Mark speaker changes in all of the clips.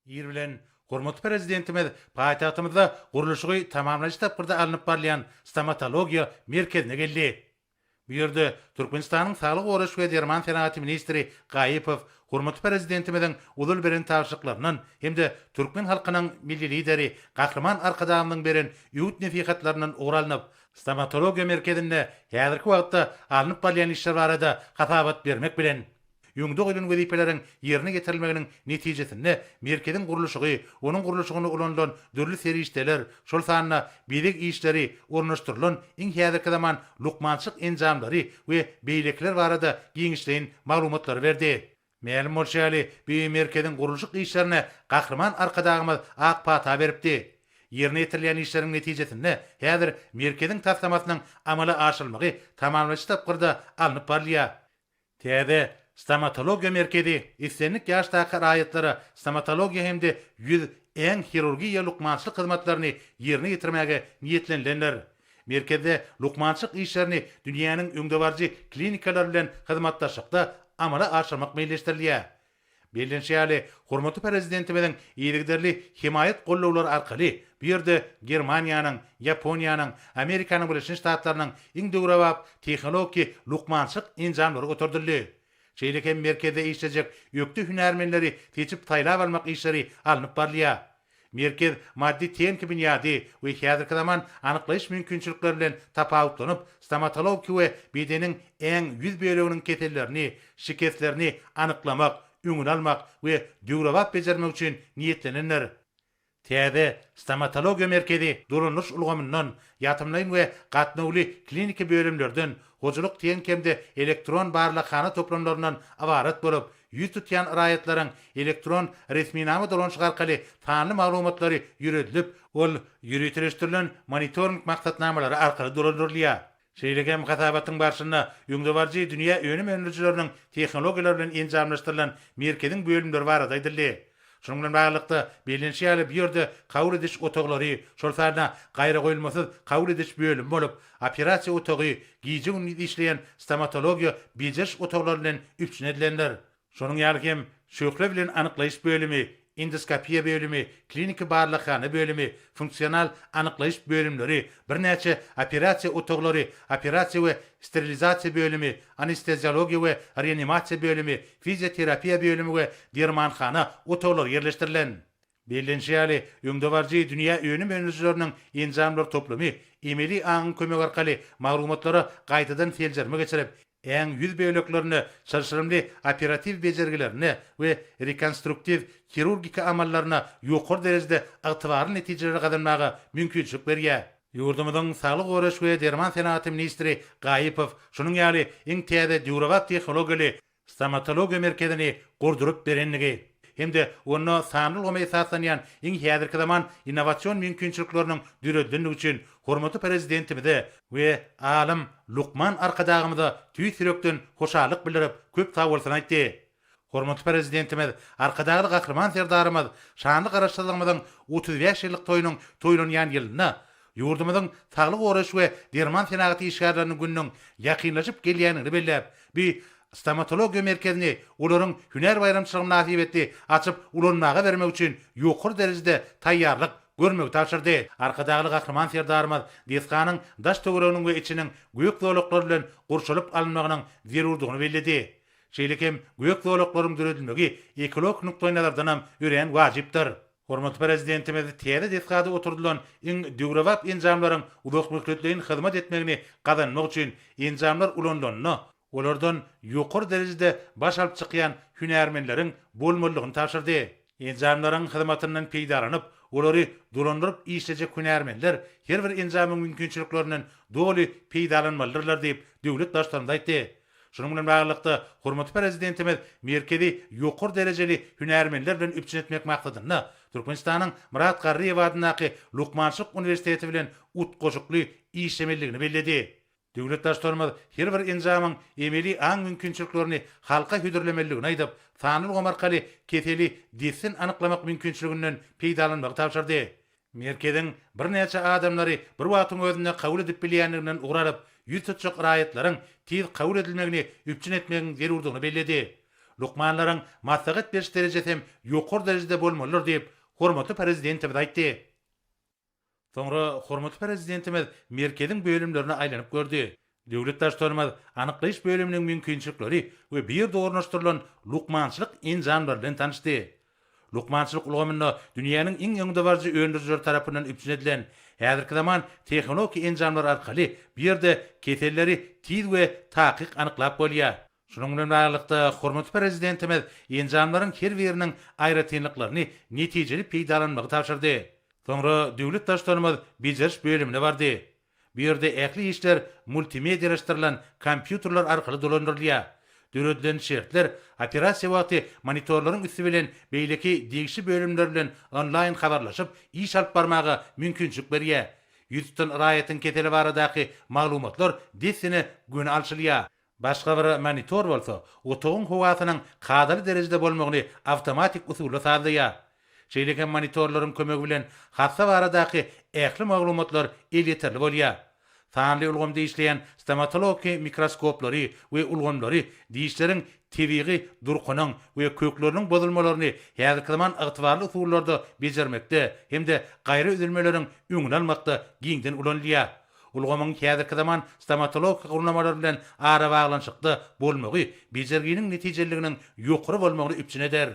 Speaker 1: Ir bilen hormatly Prezidentimiz paýtagtymyzda gurluşygy tamamlaýjy tapgyrda alnyp barylýan Stomatologiýa merkezine geldi. Bu ýerde Türkmenistanyň Saglygy goraýyş we derman senagaty ministri Gaýypow hormatly Prezidentimiziň ozal beren tabşyryklaryndan hem-de türkmen halkynyň Milli Lideri Gahryman Arkadagymyzyň beren öwüt-nesihatlaryndan ugur alnyp, Stomatologiýa merkezinde häzirki wagtda alnyp barylýan işler barada hasabat bermek bilen, Öňde goýlan wezipeleriň ýerine ýetirilmeginiň netijesinde merkeziň gurluşygy, onuň gurluşygynda ulanylan dürli serişdeler, şol sanda bezeg işleri, ornaşdyrylan iň häzirki zaman lukmançylyk enjamlary we beýlekiler barada giňişleýin maglumatlary berdi. Mälim bolşy ýaly, bu merkeziň gurluşyk işlerine Gahryman Arkadagymyz ak pata beripdi. Ýerine ýetirilýän işleriň netijesinde häzir merkeziň taslamasynyň amala aşyrylmagy tamamlaýjy tapgyrda alnyp barylýar. Täze Stomatologiýa merkezi islendik ýaşdaky raýatlara stomatologiýa hem-de ýüz, äň hirurgiýa lukmançylyk hyzmatlaryny ýerine ýetirmäge niýetlenilendir. Merkezde lukmançylyk işlerini dünýäniň öňdebaryjy klinikalary bilen hyzmatdaşlykda amala aşyrmak meýilleşdirilýär. Bellenşi ýaly, hormatly Prezidentimiziň yzygiderli hemaýat gollawlary arkaly bu ýerde Germaniýanyň, Ýaponiýanyň, Amerikanyň Birleşen Ştatlarynyň iň döwrebap tehnologiki lukmançylyk enjamlary göterildi. Şeýle hem merkezde işlejek ökde hünärmenleri seçip-saýlap almak işleri alnyp barylýar. Merkez maddy-tehniki binýady we häzirki zaman anyklaýyş mümkinçilikleri bilen tapawutlanyp, stomatologiki we bedeniň äň ýüz böleginiň kesellerini, şikeslerini, anyklamak, öňüni almak we döwrebap bejermek üçin niýetlenendir. Täze Stomatologiýa merkezi dolandyryş ulgamyndan, ýatymlaýyn we gatnawly kliniki bölümlerden, hojalyk-tehniki hem-de elektron barlaghana toplamlaryndan ybarat bolup, Ýüz tutýan raýatlaryň elektron resminama dolanyşyk arkaly sanly maglumatlary ýüredilip, ol ýöriteleşdirilen monitoring maksatnamalary arkaly dolandyrylýar. Şeýle hem hasabatyň barşynda öňdebaryjy dünýä önüm öndürijileriniň tehnologiýalary bilen enjamlaşdyrylan merkeziň bölümleri barada aýdyldy. Şunuň bilen baglylykda, bellenişi ýaly, bu ýerde kabul ediş otaglary, şol sanda gaýragoýulmasyz kabul ediş bölümi bolup, operasiýa otagy, gije-gündiz işleýän stomatologiýa bejeriş otaglary bilen üpjün edilendir. Şonuň ýaly hem, şöhle bilen anyklaýyş bölümi, endoskopiýa bölümi, kliniki barlaghana bölümi, funksional anyklaýyş bölümleri, birnäçe operasiýa otaglary, operasiýa we sterilizasiýa bölümi, anesteziologiýa we reanimasiýa bölümi, fizioterapiýa bölümi we dermanhana otaglary ýerleşdirilen. Bellenişi ýaly, öňdebaryjy dünýä önüm öndürijileriniň enjamlar toplumy emeli aňyň kömegi arkaly maglumatlara gaýtadan seljerme geçirip, äň ýüz böleklerine çylşyrymly operatiw bejergilerine we rekonstruktiw hirurgika amallaryna ýokary derejede ygtybarly netijeleri gazanmaga mümkinçilik berýär. Ýurdumyzyň Saglygy goraýyş we derman senagaty ministri Gaýypow şunuň ýaly iň täze döwrebap tehnologiýaly Stomatologiýa merkezini gurduryp berendigi hem-de onda sanly ulgama esaslanýan iň häzirki zaman innowasion mümkinçilikleriniň döredilendigi üçin hormatly Prezidentimize we alym, lukman Arkadagymyza tüýs ýürekden hoşallyk bildirip, köp sagbolsun aýtdy. Hormatly Prezidentimiz Arkadagly Gahryman Serdarymyz şanly Garaşsyzlygymyzyň otuz bäş ýyllyk toýunyň toýlanýan ýylynda, ýurdumyzyň saglygy goraýyş we derman senagaty işgärleriniň gününiň ýakynlaşyp gelýändigini belläp, bi Stomatologiýa merkezini olaryň hünär baýramçylygy mynasybetli açyp ulanmaga bermek üçin ýokary derejede taýýarlyk görmegi tabşyrdy. Arkadagly Gahryman Serdarymyz desganyň daş-töwereginiň we içiniň gök zolaklary bilen gurşalyp alynmagynyň zerurdygyny belledi. Şeýle hem gök zolaklaryň döredilmegi ekologik nukdaýnazardanam örän wajypdyr. Hormatly Prezidentimiz täze desgada oturdylan iň döwrebap enjamlaryň uzakmöhletleýin hyzmat etmegini gazanmak üçin enjamlar ulanylanda, olardan ýokary derejede baş alyp çykýan hünärmenleriň bolmalydygyny tabşyrdy. Enjamlaryň hyzmatyndan peýdalanyp, olary dolandyryp işlejek hünärmenler her bir enjamyň mümkinçiliklerinden doly peýdalanmalydyrlar diýip, döwlet Baştutanymyz aýtdy. Şunuň bilen baglylykda, hormatly Prezidentimiz merkezi ýokary derejeli hünärmenler bilen üpjün etmek maksadynda Türkmenistanyň Myrat Garryýew adyndaky Lukmançylyk uniwersiteti bilen utgaşykly işlemelidigini belledi. Döwlet Baştutanymyz her bir enjamyň emeli aň mümkinçiliklerini halka hödürlemelidigini aýdyp, sanly ulgam arkaly keseli dessin anyklamak mümkinçiliginden peýdalanmagy tabşyrdy. Merkeziň birnäçe adamlary bir wagtyň özünde kabul edip bilýändiginden ugur alyp, ýüz tutjak raýatlaryň tiz kabul edilmegini üpjün etmegiň zerurdygyny belledi. Lukmanlaryň maslahat beriş derejesi hem ýokary derejede bolmalydyr diýip, hormatly Prezidentimiz aýtdy. Soňra hormatly Prezidentimiz merkeziň bölümlerine aýlanyp gördi. Döwlet Baştutanymyz anyklaýyş bölüminiň mümkinçilikleri we bu ýerde ornaşdyrylan lukmançylyk enjamlary bilen tanyşdy. Lukmançylyk ulgamynda dünýäniň iň öňdebaryjy öndürijileri tarapyndan üpjün edilen häzirki zaman tehnologik enjamlar arkaly bu ýerde keselleri tiz we takyk anyklap bolýar. Şunuň bilen baglylykda, hormatly Prezidentimiz enjamlaryň her biriniň aýratynlyklaryny netijeli peýdalanmagy tabşyrdy. Soňra döwlet Baştutanymyz bejeriş bölümine bardy. Bu ýerde ähli işler multimedialaşdyrylan kompýuterler arkaly dolandyrylýar. Döredilen şertler operasiýa wagty monitorlaryň üsti bilen beýleki degişli bölümler bilen onlaýn habarlaşyp, iş alyp barmaga mümkinçilik berýär. Ýüz tutan raýatyň keseli baradaky maglumatlar dessine göni alşylýar. Başga bir monitor bolsa otagyň howasynyň kadaly derejede bolmagyny awtomatik usulda sazlaýar. Şeýle hem monitorlaryň kömegi bilen hassa baradaky ähli maglumatlar elýeterli bolýar. Sanly ulgamda işleýän stomatologiki mikroskoplary we ulgamlary dişleriň tebigy durkunyň we kökleriniň bozulmalaryny häzirki zaman ygtybarly usullarda bejermekde hem-de gaýra üzülmeleriň öňüni almakda giňden ulanylýar. Ulgamyň häzirki zaman stomatologik gurnamalar bilen arabaglanyşykda bolmagy bejerginiň netijeliliginiň ýokary bolmagyny üpjün eder.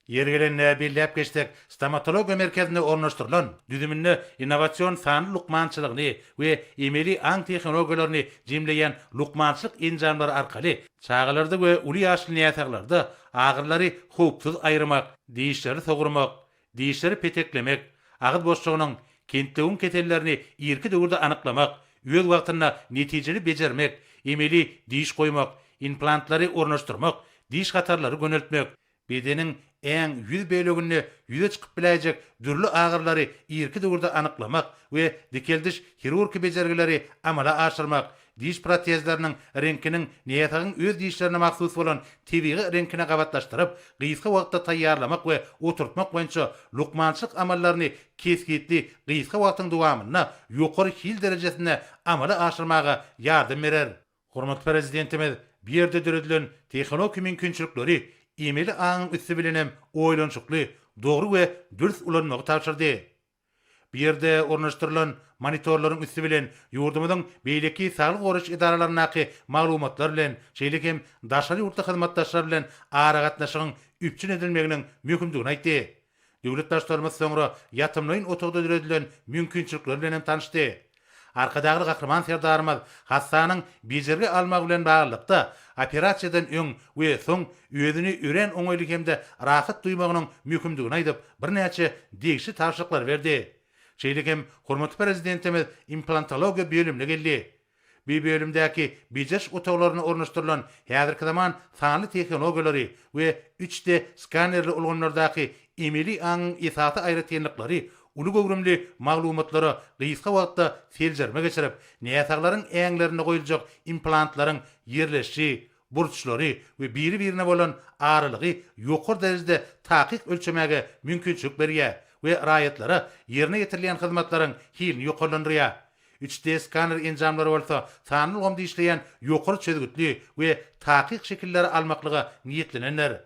Speaker 1: Ýeri gelende belläp geçsek, stomatologiýa merkezinde ornaşdyrylan düzüminde innowasion sanly lukmançylygyny we emeli aň tehnologiýalaryny jemleýän lukmançylyk enjamlary arkaly çagalarda we uly ýaşly näsaglarda agyrylary howpsuz aýyrmak, dişleri sogurmak, Dişleri peteklemek, agyz boşlugynyň, kentlewiň kesellerini irki döwürde anyklamak, öz wagtynda netijeli bejermek, emeli diş goýmak, implantlary ornaşdyrmak, diş hatarlary göneltmek, bedeniň äň ýüz böleginde ýüze çykyp biläýjek dürli agyrylary irki döwürde anyklamak we dikeldiş hirurki bejergileri amala aşyrmak, Diş protezleriniň reňkiniň näsagyň öz dişlerine mahsus bolan tebigy reňkine gabatlaşdyryp, gysga wagtda taýýarlamak we oturtmak boýunça lukmançylyk amallaryny kesgitli gysga wagtyň dowamynda ýokary hil derejesinde amala aşyrmaga ýardam berer. Hormatly Prezidentimiz bu ýerde döredilen tehnologiki mümkinçilikleri emeli aňyň üsti bilen hem oýlanyşykly, dogry we dürs ulanmagy tabşyrdy. Bu ýerde ornaşdyrylan monitorlaryň üsti bilen ýurdumyzyň beýleki saglygy goraýyş edaralaryndaky maglumatlar bilen, şeýle hem daşary ýurtly hyzmatdaşlar bilen aragatnaşygyň üpjün edilmeginiň möhümdigini aýtdy. Döwlet Baştutanymyz soňra ýatymlaýyn otagda döredilen mümkinçilikler bilen hem tanyşdy. Arkadagly Gahryman Serdarymyz hassanyň bejergi almagy bilen baglylykda, operasiýadan öň we soň özüni örän oňaýly hem-de rahat duýmagynyň möhümdigini aýdyp, birnäçe degişli tabşyryklary berdi. Şeýle hem hormatly Prezidentimiz implantologiýa bölümine geldi. Bu bölümdäki bejeriş otaglaryna ornaşdyrylan häzirki zaman sanly tehnologiýalary we üç D skanerli ulgamlardaky emeli aňyň esasy aýratynlyklary uly göwrümli maglumatlara gysga wagtda seljerme geçirip, näsaglaryň äňlerinde goýuljak implantlaryň ýerleşişi, burçlary we biri-birine bolan aralygy ýokary derejede takyk ölçemäge mümkinçilik berýär we raýatlara ýerine ýetirilýän hyzmatlaryň hilini ýokarlandyrýar. Üç D skaner enjamlary bolsa sanly ulgamda işleýän ýokary çözgütli we takyk şekilleri almaklyga niýetlenendir.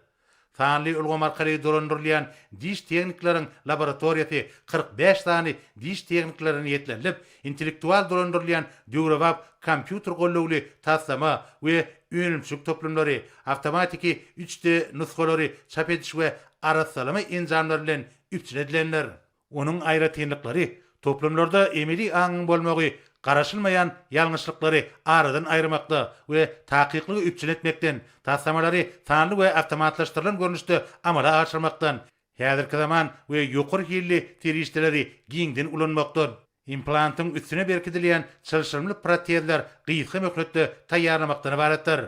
Speaker 1: Sanly ulgam arkaly dolandyrylýan diş tehnikleriň laboratoriýasy kyrk bäş sany diş tehnikleri niýetlenilip, intellektual dolandyrylýan döwrebap kompýuter gollawly taslama we önümçilik toplumlary, awtomatiki üç D nusgalary çap ediş we arassalama enjamlary bilen üpjün edilendir. Onuň aýratynlyklary, toplumlarda emeli aňyň bolmagy garaşylmaýan ýalňyşlyklary aradan aýyrmakda we takyklygy üpjün etmekden, taslamalary sanly we awtomatlaşdyrylan görnüşde amala aşyrmakdan, häzirki zaman we ýokary hilli serişdeleri giňden ulanmakdan, implantyň üstüne berkidilýän çylşyrymly protezler gysga möhletde taýýarlamakdan ybaratdyr.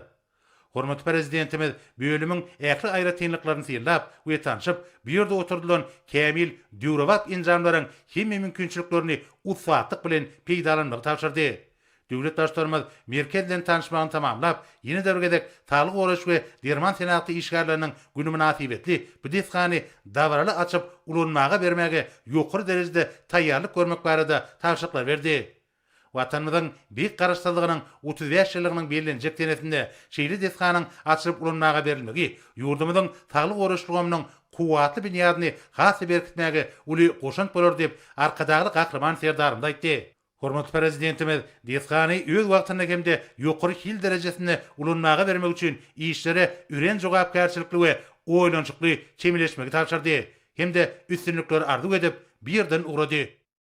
Speaker 1: Hormatly Prezidentimiz bölümiň ähli aýratynlyklaryny synlap we tanşyp, bu ýerde oturdylan kämil döwrebap enjamlaryň hemme mümkinçiliklerini ussatlyk bilen peýdalanmagy tabşyrdy. Döwlet Baştutanymyz merkez bilen tanyşmagyny tamamlap, ýene-de bir gezek Saglygy goraýyş we derman senagaty işgärleriniň güni mynasybetli bu desgany dabaraly açyp ulanmaga bermäge ýokary derejede taýýarlyk görmek barada tabşyryklar berdi. Watanymyzyň Beýik Garaşsyzlygynyň otuz bäş ýyllygynyň bellenjek senesinde şeýle desganyň açylyp ulanmaga berilmegi ýurdumyzyň saglygy goraýyş ulgamynyň kuwwatly binýadyny has-da berkitmäge uly goşant bolar diýip, Arkadagly Gahryman Serdarymyz aýtdy. Hormatly Prezidentimiz desgany öz wagtynda hem-de ýokary hil derejesinde ulanmaga bermek üçin işlere örän jogapkärçilikli we oýlanyşykly çemeleşmegi tabşyrdy hem-de üstünlikleri arzuw edip, bu ýerden ugrady.